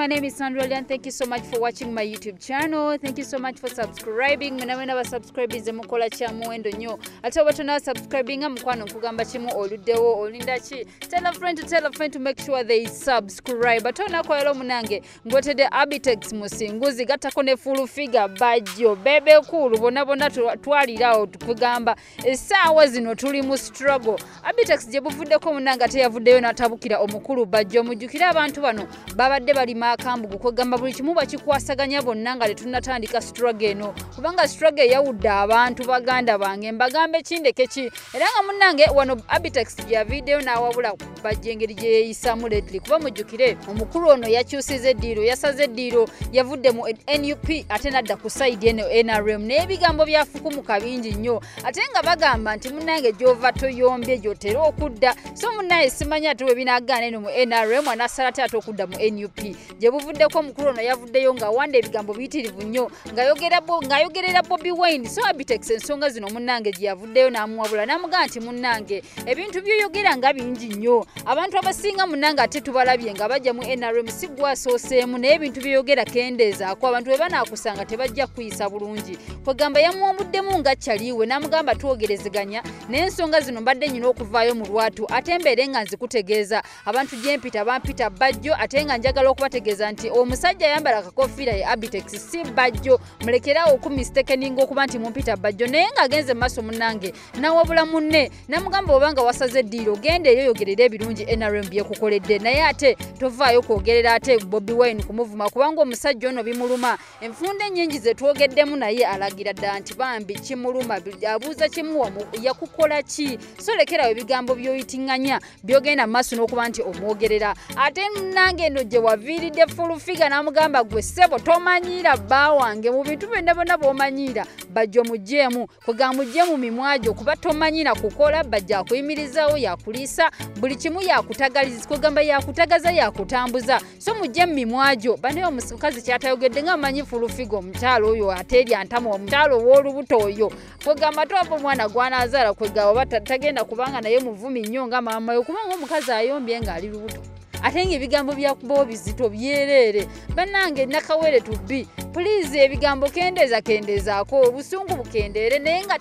my name is Sandra and thank you so much for watching my YouTube channel. Thank you so much for subscribing. Muna wena wa subscribe ize mukola cha muendo nyo. Ate watu na subscribing mkwano kugamba chimu oludewo olinda chi. Tell a friend to tell a friend to make sure they subscribe. subscribe ate olunaku olwaleero munange ngotedde abitex musinguzi gattako ne full figure bajjo bebe kuulu bona bona twalirawo tukugamba essaawa zino tuli mu struggle abitex gye buvuddeko munange ate yavuddeyo n'atabukira omukulu bajjo mujjukire abantu bano babadde balima akambugu kwegamba buli kimu bakikwasaganya bonna nga tetunnatandika struggle eno kubanga struggle eyawudde abantu baganda bange mbagambe kindekeki era nga munange wano abitex gyaviiddeyo n'awabula bajja engeri gye yeeyisaamu lately kuba mujjukire omukulu ono yakyusiza eddiiro yasaze eddiiro yavudde mu nup ate nadda ku sayidi eno nrm naye ebigambo byafukumuka bingi nnyo ate nga bagamba nti munnange gy'ova toyombye gy'otera okudda so munnaye simanya ate we binagaana eno mu nrm anasala ate ate okudda mu nup gye buvuddeko omukulu ono yavuddeyo ng'awanda ebigambo biyitirivu nnyo ng'ayogerera bobi wine so abitex ensonga zino munnange gye yavuddeyo n'amuwabula n'amugamba nti munnange ebintu byoyogera nga bingi nnyo abantu abasinga munnange ate tubalabye nga bajja mu nrm si gwasooseemu naye ebintu byoyogera kendeezaako abantu bwe banaakusanga tebajja kukuyisa bulungi kwegamba yamuwamuddemu nga kyaliiwe n'amugamba twogerezeganya naye ensonga zino mbadde nyina okuvaayo mu lwatu ate mbeere nga nzikutegeeza abantu gyempita bampita bajjo ate nga njagala okubategeeza nti omusajja ayambala akakofiira ye abitex si bajjo mulekeraawo okumistekeninga okuba nti mumpita bajjo naye ng'agenze mu maaso munange nawabula munne namugamba oba nga wasaze eddiiro genda eyo yogerera ebirungi nrm byekukoledde naye ate tovaayo kwogerera ate bobi wine kumuvuma kubanga omusajja ono bimuluma enfunda ennyingi zetwogeddemu naye alagira dda nti bambi kimuluma abuuza kimuwa yakukola ki solekerawo ebigambo byoyitinganya byogenda mumaaso n'okuba nti omwogerera ate nange eno gye waviiridde fulufiga n'amugamba gwe ssebo tomanyiira bba wange mu bintu byonna byonna bwomanyiira bajja omugyemu kwega mugye mu mimwa gyo kuba tomanyiira kukola bajja akuyimirizaawo yakuliisa buli kimu yakutagaliza kwegamba yakutagaza yakutambuza so mugye mu mimwa gyo banaye omukazi kyatayogedde nga amanyi fulufiga omukyalo oyo ateerya ntama omukyalo ow'olubuto oyo kwegamba ate wava omwana gwanazala kwegamba oba tagenda kubanga naye muvumi nnyo nga maama yo kubanga omukazi ayombye ngaali lubuto ate nga ebigambo byakubawo bizito byereere banange nakawere tubi pulizi ebigambo kendeeza kendeezaako obusungu bukendeere naye nga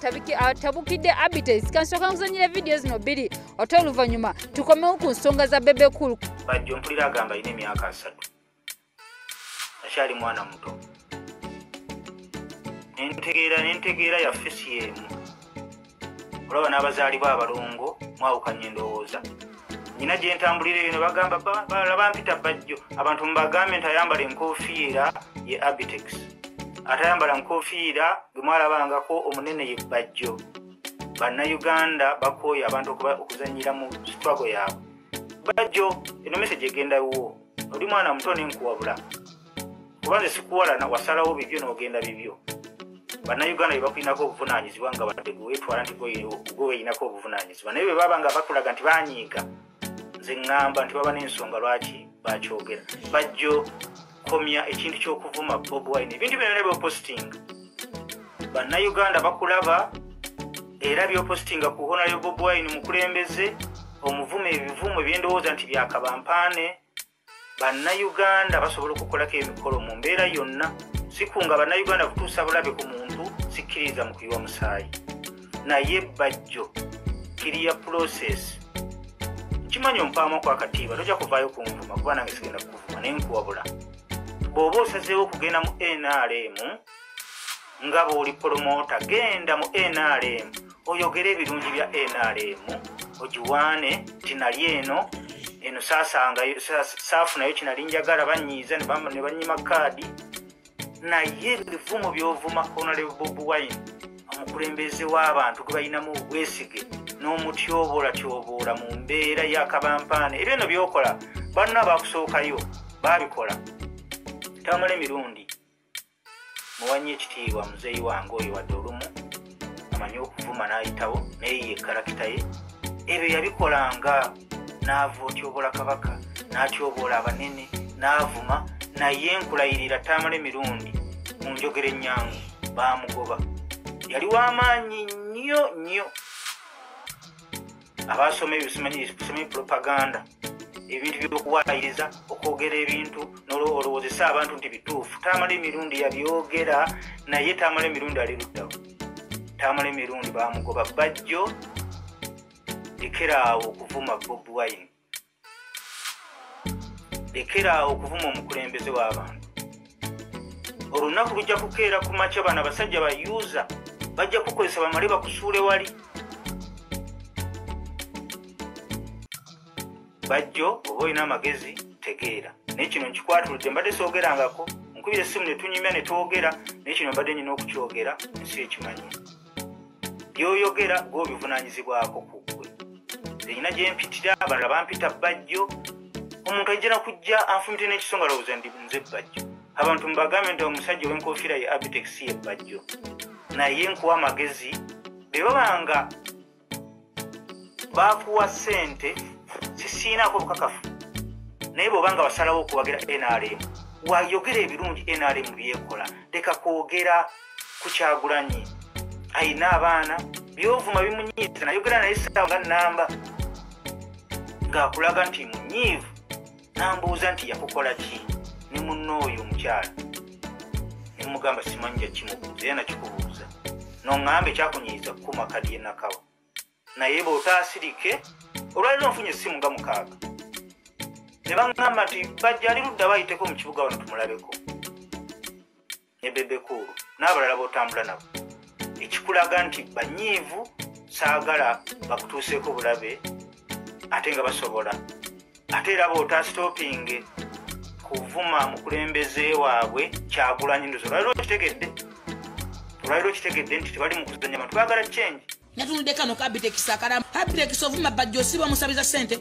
atabukidde ah, abites kansooka nkuzanyira vidiyo zino bbiri ate oluvannyuma tukomewo ku nsonga za bebe kulu bajjo mpulira agamba alina emyaka asatu akyali mwana muto nentegeera nentegeera yaffe si emu olaba n'abazaalibwa abalongo mwawukanya endowooza nyina gye ntambulira eyo ne bagamba balala bampita bajjo abantu mubagambe nti ayambala enkofiira ye abitex ate ayambala nkofiira gwe mwalabangako omunene ye bajjo bannayuganda bakooye abantu okuzanyira mu sitwago yaabwe bajjo eno mese gyegenda wuwo oli mwana muto nenkuwabula kuba nze sikuwalana wasalawo bibyo nogenda bibyo bannayuganda bebakulinako obuvunanyizibwa nga badde gwewetwala nti gwe weyinako obuvunanyizibwa naye bwebaba nga bakulaga nti banyiiga nze ŋŋamba nti baba n'ensonga lwaki bakyogera bajjo komya ekintu ky'okuvuma bob wine ebintu byona byopositinga bannayuganda bakulaba era byopositinga ku honario bobwine mukulembeze omuvuma ebivumu ebyendowooza nti byakabampaane bannayuganda basobola okukolako emikolo mu mbeera yonna sikunga bannayuganda kutuusa bulabe ku muntu sikkiriza mu kuyiwa musaayi naye bajjo kiriya process kimanyi ompaamu kwakatiibwa tojja kuvaayo kunvuma kuba nange sigenda kukuvuma naye nkuwabula bw'oba osazeewo okugenda mu nrm nga bw'oli polomoota genda mu nrm oyogere ebirungi bya nrm ogiwaane tinali eno eno saasangayo saafu nayo kinali njagala banyiiza ne banyima kaadi naye ebivumo byovuma honalebob wine omukulembeze w'abantu gwe balinamu obwesige n'omutyobolatyobola mu mbeera yakabampaana ebyo no byokola banno abakusookayo babikola tamala emirundi muwanye ekitiibwa muzeeyi wange oyo wadde olumu amanyi okuvuma n'ayitawo naye ye kalakita ye ebyo yabikolanga n'ava otyoboola kabaka n'atyoboola abanene n'avuma naye nkulayirira taamala emirundi mu njogera ennyangu baamugoba yali w'amaanyi nnyo nnyo abaasoma ebyo simanyi propaganda ebintu byokuwayiriza okwogera ebintu nolowoozesa abantu nti bituufu tamala emirundi yabyogera naye tamala emirundi ali luddawo tamala emirundi bamugoba bajjo lekeraawo okuvuma bob wine lekeraawo okuvuma omukulembeze w'abantu olunaku lujja kukeera ku makya bano abasajja ba usa bajja kukozesa bamale bakusuule wali bajjo oba olina amagezi tegeera naye kino nkikwatuludde mbadde soogerangako nkubira essimu ne tunyumya ne twogera naye kino mbadde nyina okukyogera ensi ekimanyi byoyogera gwe obivunanyizibwako ku gwe zenyina gyempitira abalala bampita bajjo omuntu ajja nakujja anfumitire n'ekisonga lowooza ndi nze bajjo abantu mubagambe nti omusajja ow'enkofiira ye abitex ye bajjo naye nkuwa amagezi bebabanga bakuwa sente sisiinako obukakafu naye bwoba nga wasalawo okuwagira nrm wayogera ebirungi nrm byekola leka kwogera ku kyagulanyi ayina abaana byovuma bimunyiiza nayogera naye saawa nga namba ngaakulaga nti munyiivu nambuuza nti yakukola ki ne munna oyo omukyala nemugamba simanyi jakimubuuza era nakikubuuza noŋŋamba ekyakunyiiza kukuma kadi yenakawa naye bwotaasirike olwaliro nfunye essimu nga mukaaga ne baŋŋamba nti bajja ali ludda bayiteko mu kibuga wano tumulabeko ne bebekuulu n'abalala b'otambula nabo ekikulaga nti banyiivu saagala bakutuuseeko bulabe ate nga basobola ate era bootasitopinge kuvuma mukulembeze waabwe kyagulanyi ndozo olwaliro okitegedde olwaliro okitegedde nti tebali mukuzanya bantu bagala kyengi natunudde kano ka bitekisi akalamu abitekisi ovuma bajja osiba omusabiza sente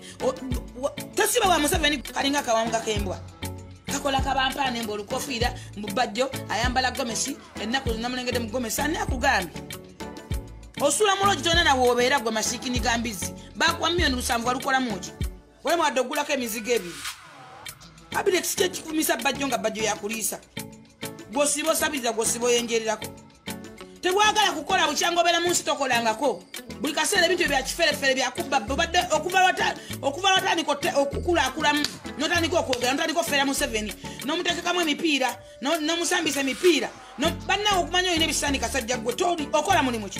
tosiba wa museveni kalinga akawanga kembwa kakola kabampaana emba olukofiira mu bajjo ayambala gomesi ennaku zinamulengedde mu gomesi ani akugambye osula mulogi tona nawe obeera gwe masiikini ga mbizzi bakuwa miyoni lusanvu walukolamu ki wali mwadde ogulako emizigo ebiri kabineeti kyekifumisa bajjo nga bajjo yakuliisa gwosiba osabiriza gwosiba oyenjererako tebwagala kukola bukyanga obeera mu nsi tokolangako buli kaseera ebintu ebyakiferefere byakubba obadde okuva watandika okukulakulamu notandika okwogera notandika okufera museveni nomutekekamu emipiira nomusambisa emipiira bannawe okumanya olina ebisani kasajja gwe okola mulimu ki